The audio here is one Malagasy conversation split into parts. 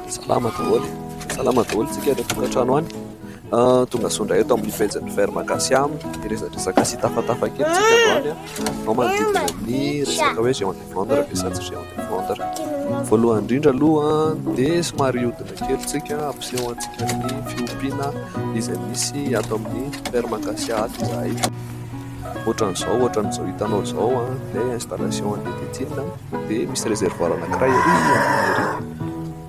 Salama daholo, salama daholo tsika any an-tokantrano any. Ah, tonga soa indray eto amin'ny pejin'ny Vert Magasia miresadresaka sy tafatafa kely tsika androany ah. ao manodidina amin'ny resaka hoe géant de vendre ve sa tsy géant de vendre. Voalohany indrindra aloha dia somary hodina kely tsika ampiseho antsika ny fiompiana izay misy ato amin'ny Vert Magasia ato izahay. Ohatran'izao, ohatran'izao hitanao izao ah, dia installation andeha dia tsinona. dia misy réservoir anankiray ery ambony ery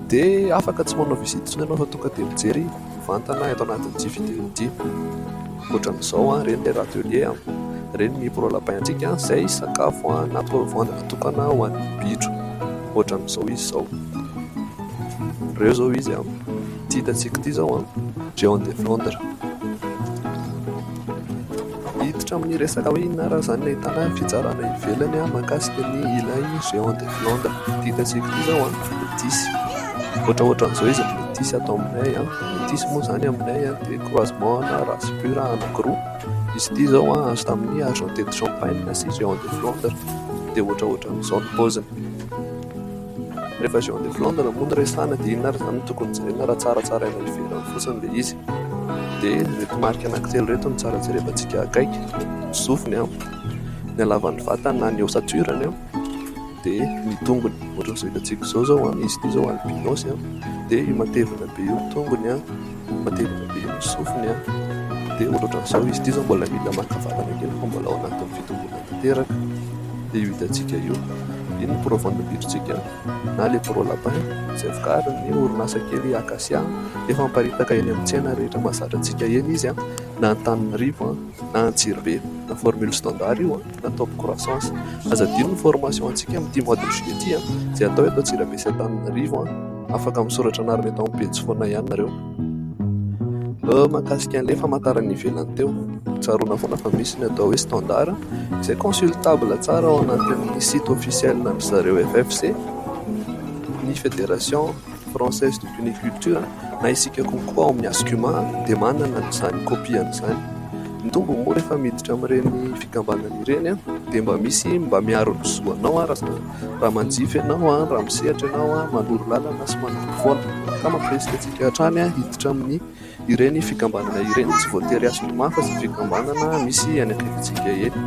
dia afaka tsy manao visite intsony ianao fa tonga dia mijery mivantana eto anatin'ny dimy vidéo dimy ohatran'izao an ireny le râtelier an ireny ny pro lapin antsika an izay sakafo an na toavandana tokana ho an'ny bitro ohatran'izao izy izao ireo izao izy an ity hitantsika ity izao an John de Flandre Hiditra amin'ny resaka hoe inona ary izany ilay tanàna fitsarana ivelany aho mahakasika ny ilay Géant des Flandres. Ity gazeko ity izao an, metisy. Ohatraohatran'izao izy ry metisy ato aminay an. Metisy moa izany aminay an dia croisement ana race pure anankiroa. Izy ity izao an azo tamin'ny Argenté de Champagne sy Géant des Flandres. Dia ohatraohatran'izao ny paoziny. Rehefa Jean de Flandre moa no resahana dia inona ary izany no tokony jerena raha tsara tsaraina avy ivelany fotsiny ilay izy? Dia ireto marika anankitelo ireto no tsara jerevantsika akaiky, ny sofiny, ny halavan'ny vatany na ny ossature-ny, dia ny tongony, ohatran'izao hitantsika izao izao izy ity izao albinos, dia io matevina be io ny tongony. fa tena be ny sofiny an! dia ohatrany izao izy ity izao mbola mila maka vatana kely fa mbola ao anatin'ny fitomboana tanteraka dia io hitantsika io iny ny pro vondim-bidrontsika na le pro lapin izay vokarin'ny orinasa kely akasia efa miparitaka eny amin'ny tsena rehetra mahazatra antsika eny izy an! na Antananarivo an! na Antsirabe na formule standard io an! na top croissance. Aza adino ny formation antsika amin'ity mois de juillet ity izay atao eto Antsirabe sy Antananarivo. Afaka misoratra anarana eto amin'ny pejy foana ihany nareo. Euh, mahakasika an'ilay famantarana ivelany teo, tsaroana foana fa misy ny atao hoe standard izay consultable tsara ao anatin'ny site officiel an'dry zareo FFC, ny federation. Française de Puniculture, na isika kokoa ao amin'ny Ascuma dia manana an'izany kopiany izany. Ny tombony moa rehefa miditra amin'ireny fikambanana ireny dia mba misy mba miaro ny zo anao raha manjifa ianao, raha misehatra ianao, manoro lalana sy manamby foana. Ka mampirisika antsika hatrany hiditra amin'ny Ireny fikambanana ireny tsy voatery hasolo mafa izay fikambanana misy any akaikintsika eny.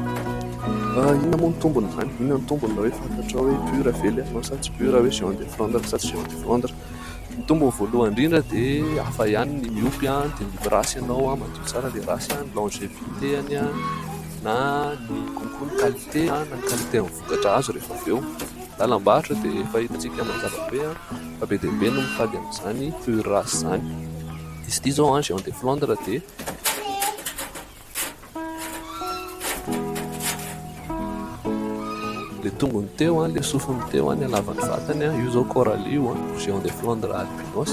Inona moa ny tombony izany? Inona ny tombony raha hoe fantatrao hoe pur ve ilay anao sa tsy pur, hoe géant de flandre sa tsy géant de flandre? Ny tombony voalohany indrindra dia hafa ihany ny miompy dia miompy race ianao, madio tsara ilay race, ny longevité-ny na ny konko ny qualité na ny qualité-ny vokatra azo rehefa avy eo. lalam-barotra dia efa hitantsika mazava be fa be dia be no mitady an'izany fur race izany. Izy ity izao an, Géant de Flandre dia. Ilay tongony teo an, ilay sofiny teo an, ny halavan'ny vatany an, io izao Coralie io an, Géant de Flandre albinos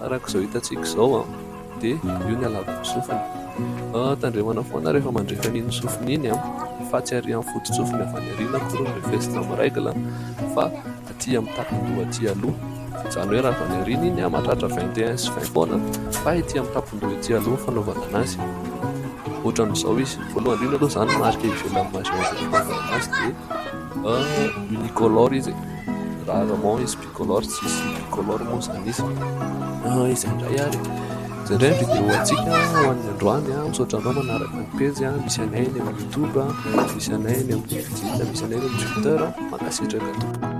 araka izao hitantsika izao an. dia io ny alàko ny sofiny. Tandremana foana rehefa mandrefy an'iny sofiny iny fa tsy arỳ amin'ny foto-tsofiny avy any aoriana akory ny vesina amin'ny règle fa atỳ amin'ny tapon-doha atỳ aloha. Izany hoe raha avy any aoriana iny mahatratra vingt et un sy vingt taona fa etỳ amin'ny tapon-doha etỳ aloha ny fanaovana an'azy. Ohatran'izao izy, voalohany indrindra aloha izany marika ivelan'ny majeur izay nanaovana an'azy dia unicolore izy e, rarement izy. Tricolore tsisy tricolore moa izany izy. Ah, izay indray ary. Izay indray ny vidéo antsika ho an'ny androany. Ah. Misaotra anao manaraka ny pejy. Ah. Misy anay eny amin'ny YouTube, ah. misy anay eny amin'ny Facebook, misy anay eny amin'ny Twitter. Mankasitraka tompoko.